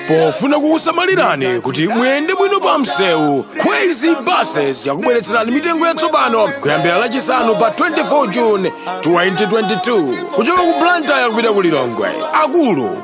pofuna kukusamalirani kuti muyende bwino pa msewu Kwezy buses yakubweretserani mitengo yatsopano kuyambira lachisanu pa 24 june 2022 kuchoka ku blantyre kupita ku lilongwe akulu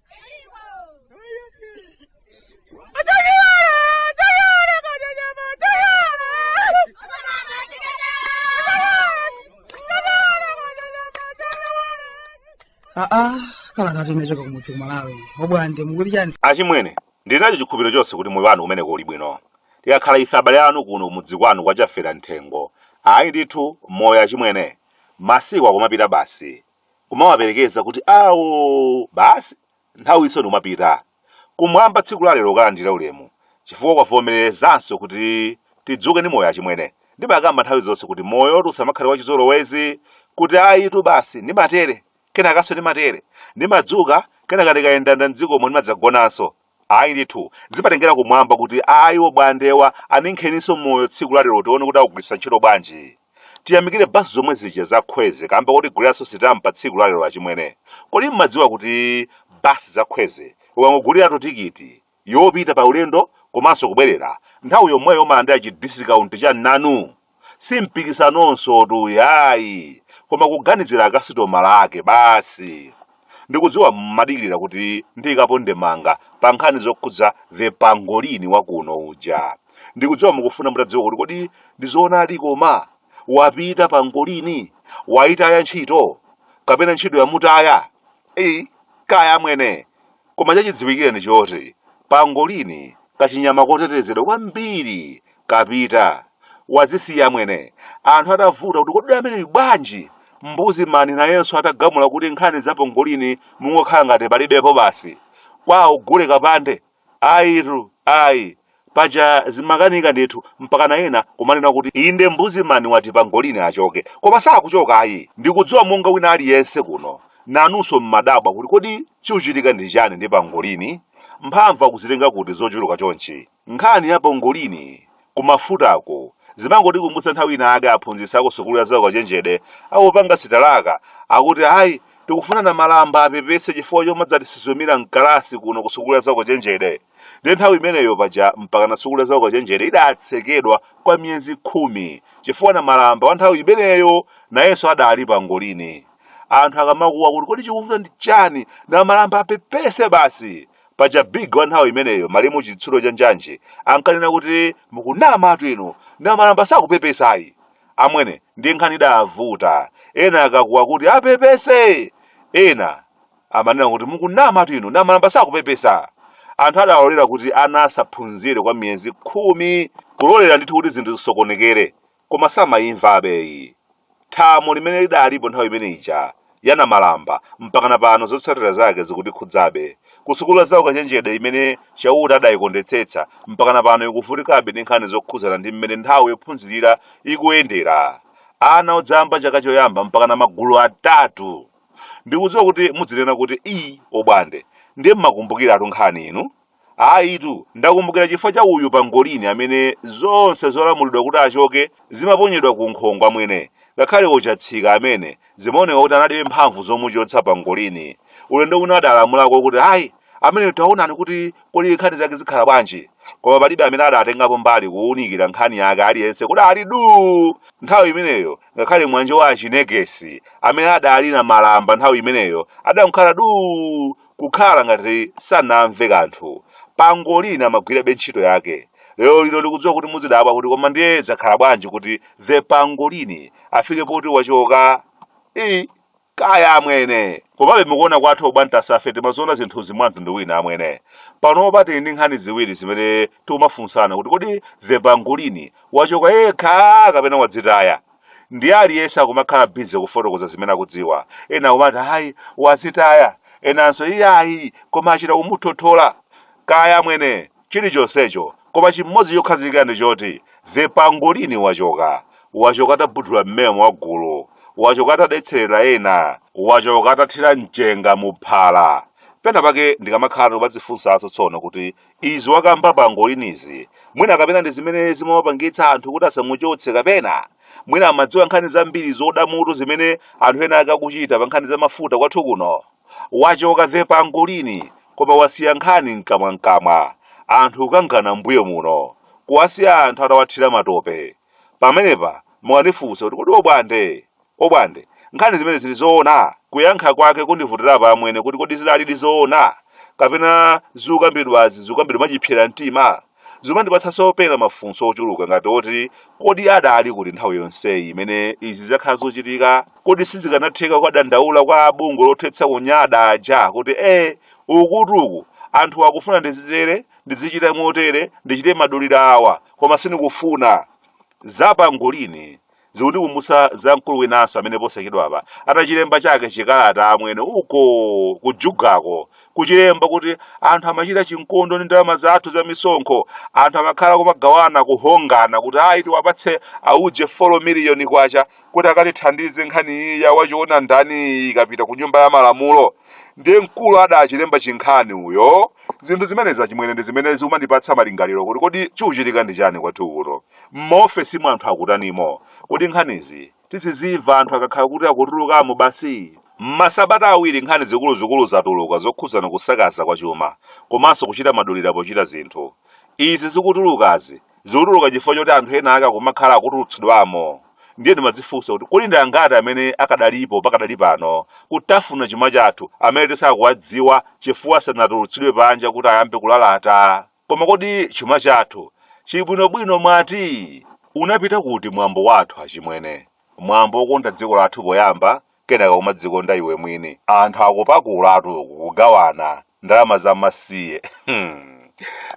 kalata yochoka kumudzi ku Malawi obwande mukuti chani achimwene ndili nacho chikhulupiriro chonse kuti moyo wanu kumeneko uli bwino tikakhala ife abale anu kuno kumudzi kwanu kwa Chafera Mthengo ayi ndithu moyo achimwene masiku akumapita basi kumawaperekeza kuti awo basi nthawinso ndikumapita kumwamba tsiku la lero kalandire ulemu chifukwa kwavomerezanso kuti tidzuke ndi moyo achimwene ndimakamba nthawi zonse kuti moyo usamakhale wachizolowezi kuti ayitu basi ndimatere kenakanso ndimatere ndimadzuka kenaka ndikayendayenda mdzikomo ndimadzagonanso Ayi ndithu, zimatengera kumwamba kuti ayi obwandewa aninkheninso moyo tsiku la lero tione kuti akugwiritsa ntchito bwanji. Tiyamikire basi zomwe zija za khweze kamba kotiguliranso sitampa tsiku la lero achimwene. Kodi mmadziwa kuti bus za khweze ukangoguliratu tikiti yopita pa ulendo komanso kubwerera, nthawi yomweyo umalandira chi discount cha nanu! si mpikisanonsotu ayi koma kuganizira akasitomala ake basi ndikudziwa mmadikirira kuti ndiikepo ndemanga pa nkhani zokhudza the pangolini wakuno uja ndikudziwa mukufuna mutadziwa kuti kodi ndizoonadi koma wapita pangolini wayitaya ntchito kapena ntchito yamutaya eyi kaya amwene Koma chachidziwikire ndi choti pangolini kachinyama kotetezedwa kwambiri kapita. Wazisiya amwene. Anthu atavuta kuti kodi ameneyu bwanji? Mbuzi man nayenso atagamula kuti nkhani za pangolini mungokhala ngati palibepo basi. Kwawo gule kapande? Ayitu, ayi. Paja zimakanika ndithu mpakana ena kumanena kuti inde mbuziman wati pangolin achoke. Koma sakuchoka ayi. Ndikudziwa monga wina aliyense kuno nanunso mmadabwa kuti kodi chikuchitika ndi chani ndi pangolin? Mphamvu akuzitenga kuti zochuluka chonchi? Nkhani ya pangolin ku mafutaku zimangotikumbutsa nthawi inayake aphunzitsi aku sukulu ya zaukachenjede akupanga sitalaka akuti ayi tikufuna namalamba apepese chifukwa chomadzatisuzumira mkalasi kuno ku sukulu ya zaukachenjede. Ndiye nthawi imeneyo paja mpakana sukulu ya zaukachenjede idatsekedwa kwa miyezi khumi chifukwa namalamba wa nthawi imeneyo nayenso adali pangolini. Anthu akamakuwa kuti kodi chikuvuta ndi chani namalamba apepese basi. Paja big wa nthawi imeneyo malemu chitsulo cha njanji ankanena kuti mukunamatu inu namalamba sakupepesayi. Amwene ndi nkhani idavuta ena akakuwa kuti apepese ena amanena kuti mukunamatu inu namalamba sakupepesa anthu adalolera kuti ana asaphunzire kwa miyezi khumi kulolera ndithu kuti zinthu zisokonekere koma samayimva abeyi thamo limene lidalipo nthawi imene ija ya namalamba mpakana pano zotsatira zake zikutikhudzabe kusukulu ya zaukachenjede imene chauta adayikondetsetsa mpakana pano ikuvutikabe ndi nkhani zokhudzana ndi mmene nthawi yophunzirira ikuyendera ana odzayamba chaka choyamba mpakana magulu atatu ndikudziwa kuti muzinena kuti i obwande ndiye mmakumbukiratu nkhani inu ayitu ndakumbukira chifukwa cha uyu pangolini amene zonse zolamulidwa kuti achoke zimaponyedwa ku nkhongo amwene ngakhale ochatsika amene zimaoneka kuti analibe mphamvu zomuchotsa pangolini ulendo uno adalamulako kuti ayi amene taonani kuti kodi nkhani zake zikhala bwanji koma palibe amene adatengapo mbali kuwunikira nkhani yake aliyense kuti ali duu nthawi imeneyo ngakhale mwanje wa achinekesi amene adali namalamba nthawi imeneyo adangokhala duu kukhala ngati sanamve kanthu pangolini amagwirabe ntchito yake lero lino ndikudziwa kuti muzidabwa kuti koma ndiye zakhala bwanji kuti the pangolini afike poti wachoka i kaya amwene komabe mukuona kwathu obwantasafe timaziona zinthuzi mwa mtundu wina amwene panopa tili ndi nkhani ziwiri zimene tikumafunsana kuti kodi the pangolini wachoka yekha kapena wadzitaya ndiye aliyense akumakhala bize kufotokoza zimene akudziwa ena akumati ayi wadzitaya enanso iyayi koma achita kumuthothola kaya amwene chilichonsecho koma chimodzi chokhazikika ndi choti the pangolini wachoka wachoka atabudula mmemo wa gulu wachoka atadetserera ena wachoka atathira mchenga mu phala pena pake ndikamakhala ndikumadzifunsanso tsono kuti izi wakamba pangolinizi mwina kapena ndi zimene zimawapangitsa anthu kuti asamuchotse kapena mwina amadziwa nkhani zambiri zoda mutu zimene anthu ena ake akuchita pa nkhani za mafuta kwathu kuno wachoka the pangolini koma wasiya nkhani mkamwamkamwa anthu kukangana mbuyo muno kuwasiya anthu atawathira matope pamenepa mukandifunsa kuti kodi obwande obwande nkhani zimenezi ndi zoona kuyankha kwake kundivutirapo amwene kuti kodi zidalidi zoona kapena zikukambidwazi zikukambidwa mwachipsera mtima Zimandipatsanso pena mafunso ochuluka ngati oti, Kodi adali kuti nthawi yonseyi imene izi zakhala zikuchitika? Kodi sizikanatheka kukadandaula kwa a bungwe lothetsa kunyada aja kuti ee, ukutu uku, anthuwa akufuna ndizitere, ndidzichita motere, ndichite madulira awa, koma sindikufuna? Za pangolini zikundikumbutsa za mkulu winanso amene posachedwapa atachilemba chake chikalata amwene uko kujugako kuchilemba kuti anthu amachita chinkondo ndi ndalama zathu za misonkho anthu amakhala kumagawana kuhongana kuti ayi tiwapatse auje 4 miliyoni kwacha kuti akatithandize nkhani ya wachiona ndani ikapita ku nyumba ya malamulo ndiye mkulu adachilemba chinkhani uyo zinthu zimenezi achimwene ndi zimene zikumandipatsa malingaliro kuti kodi chikuchitika ndi chani kwathu kuno M'maofesimu anthu akutanimo? Kodi nkhanizi tizizimva anthu akakhala kuti akutulukamo basi? M'masabata awiri nkhani zikuluzikulu zatuluka zokhuzana kusakaza kwa chuma komanso kuchita madulira pochita zinthu. Izi zikutulukazi zikutuluka chifukwa choti anthu ena ake akumakhala akutulutsidwamo ndiye ndimadzifunsa kuti kodi ndi angati amene akadalipo pakadali pano kutafuna chuma chathu amene tisakuwadziwa chifukwa sanatulutsidwe panja kuti ayambe kulalata? Koma kodi chuma chathu chibwinobwino mwati? Unapita kuti mwambo wathu achimwene? Mwambo wokonda dziko lathu poyamba, kenaka kumadzikonda iwe mwini. Anthu akupakulatu uku kugawana ndalama za masiye. Hmm.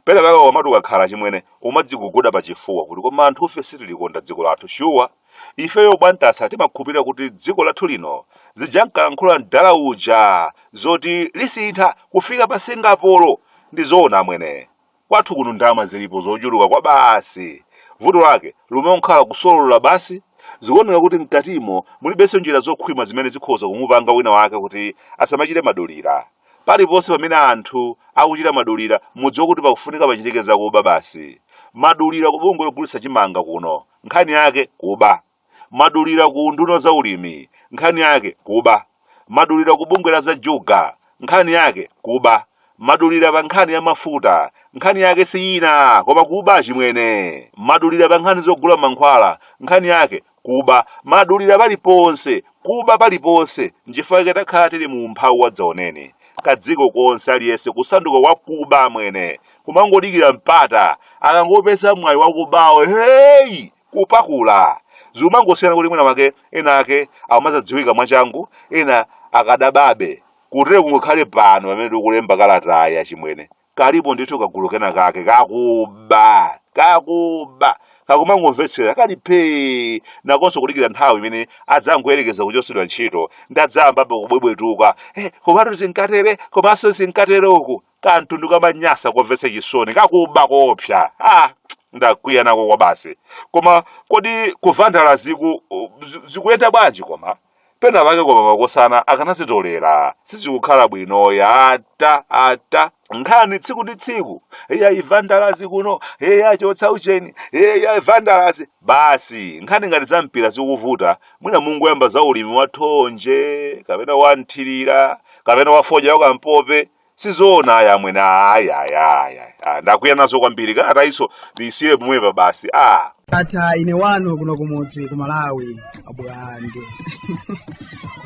Penapake ukamati ukakhala achimwene umadziguguda pachifuwa kuti koma anthufe sitilikonda dziko lathu shuwa. Ifeyo Bwantasa timakhupira kuti dziko lathu lino zijankalankhula mdala uja zoti lisintha kufika pa Singapore ndi zoona amwene. Kwathu kuno ndalama zilipo zochuluka kwabasi. Vuto lake limangokhala kusolola basi zikuoneka kuti mkatimo mulibenso njira zokhwima zimene zikhoza kumupanga wina wake kuti asamachite madulira. Paliponse pamene anthu akuchita madulira mudziwe kuti pakufunika pachitike zakuba basi. Madulira ku bungwe logulitsa chimanga kuno nkhani yake kuba madulira ku unduna wa za ulimi nkhani yake kuba madulira ku bungwe la za juga nkhani yake kuba madulira pa nkhani ya mafuta nkhani yake si ina koma kuba achimwene madulira pa nkhani zogula mankhwala nkhani yake kuba madulira paliponse kuba paliponse nchifukwa chake takhala tili mu umphawi wadzaoneni kadziko konse aliyense kusanduka wakuba amwene kumangodikira mpata akangopeza mwayi wakubawo heyi kupakula zimangosiyana kuti mwina make ena ake amadzadziwika mwachangu ena akadababe kutero kungokhale pano pamene tikulemba kalatayi achimwene kalipo ndithu kagulu kena kake kakuba kakuba kakumangomvetsera kali phee nakonso kudikira nthawi imene adzangoyerekeza kuchotsedwa ntchito ndadzayambapo kubwebwetuka eh, komatu zinkatere komanso zinkatere uku kamtundu kamanyasa komvetsa chisoni kakuba koopsa ah ndakwiya nako kwa basi koma kodi kuvandala ziku zi- zikuyenda bwanji koma pena pake koma makosana akanazitolera sizikukhala bwino ya ata ata nkhani tsiku ndi tsiku eya ivandalazi kuno eya chotsa ucheni eya ivandalazi basi nkhani ngati za mpira zikuvuta mwina mungoyamba za ulimi wa thonje kapena wa mthirira kapena wa fodya wa kampope sizoona aya amwene aya aya aya Ah, ndakwiya nazo kwambiri kalatayi iso ndiyisiye pomwepa basi ah ata ine wanu kuno kumudzi ku malawi abulande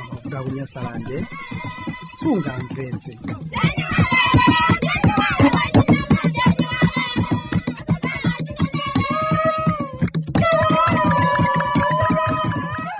amafuta kunyasalande sungamvetse